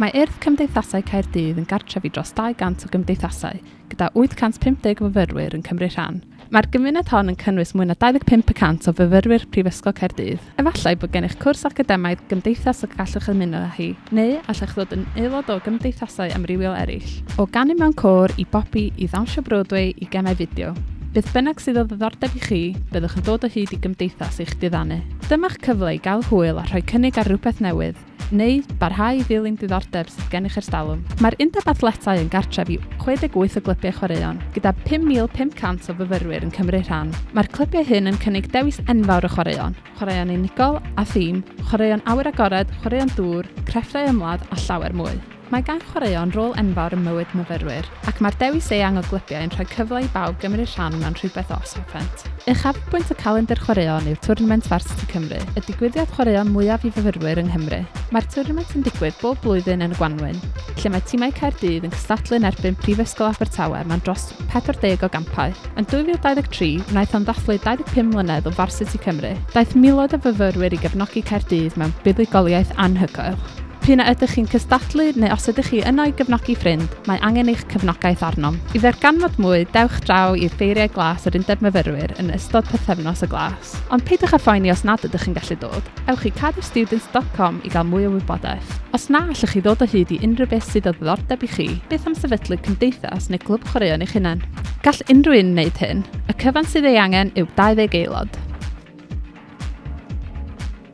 Mae Urdd Cymdeithasau Caerdydd yn gartref i dros 200 o gymdeithasau, gyda 850 o fyfyrwyr yn cymryd rhan. Mae'r gymuned hon yn cynnwys mwy na 25 y cant o fyfyrwyr Prifysgol Caerdydd. Efallai bod gennych cwrs academaidd gymdeithas y gallwch ymuno â hi, neu allech ddod yn aelod o gymdeithasau amrywiol eraill. O ganu mewn côr i bopi i ddawnsio Broadway i gemau fideo, beth bynnag sydd o ddiddordeb i chi, byddwch yn dod o hyd i gymdeithas eich diddanu. Dyma'ch cyfle i gael hwyl a rhoi cynnig ar rywbeth newydd. neu barhau i ddilyn diddordeb sydd gennych erstalwm. Mae'r Undeb Athletau yn gartref i 68 o glybiau chwaraeon, gyda 5,500 o fyfyrwyr yn cymryd rhan. Mae'r clybiau hyn yn cynnig dewis enfawr o chwaraeon, chwaraeon unigol a thîm, chwaraeon awyr agored, chwaraeon dŵr, crefftau ymladd a llawer mwy. Mae gan chwaraeon rôl enfawr ym mywyd myfyrwyr, ac mae'r dewis eang o glybiau yn rhoi cyfle i bawb gymryd rhan mewn rhywbeth os hoffent. Uchafbwynt y calendr chwaraeon yw twrnament Varsity Cymru, y digwyddiad chwaraeon mwyaf i fyfyrwyr yng Nghymru. Mae'r twrnament yn digwydd bob blwyddyn yn y gwanwyn, lle mae timau Caerdydd yn cystadlu yn erbyn Prifysgol Abertawe mewn dros 40 o gampau. Yn 2023, wnaeth hon ddathlu 25 mlynedd o Varsity Cymru. Daeth miloedd o fyfyrwyr i gefnogi Caerdydd mewn buddugoliaeth anhygoel. P'un a ydych chi'n cystadlu neu os ydych chi yno i gefnogi ffrind, mae angen eich cefnogaeth arnom. I ddarganfod mwy, dewch draw i Ffeiriau Glas yr Undeb Myfyrwyr yn ystod Pythefnos y Glas. Ond peidiwch â phoeni os nad ydych yn gallu dod, ewch i cadwstudents dot com i gael mwy o wybodaeth. Os na allwch chi ddod o hyd i unrhyw beth sydd o ddiddordeb i chi, beth am sefydlu cymdeithas neu glwb chwaraeon eich hunain? Gall unrhyw un wneud hyn, y cyfan sydd ei angen yw 20 aelod.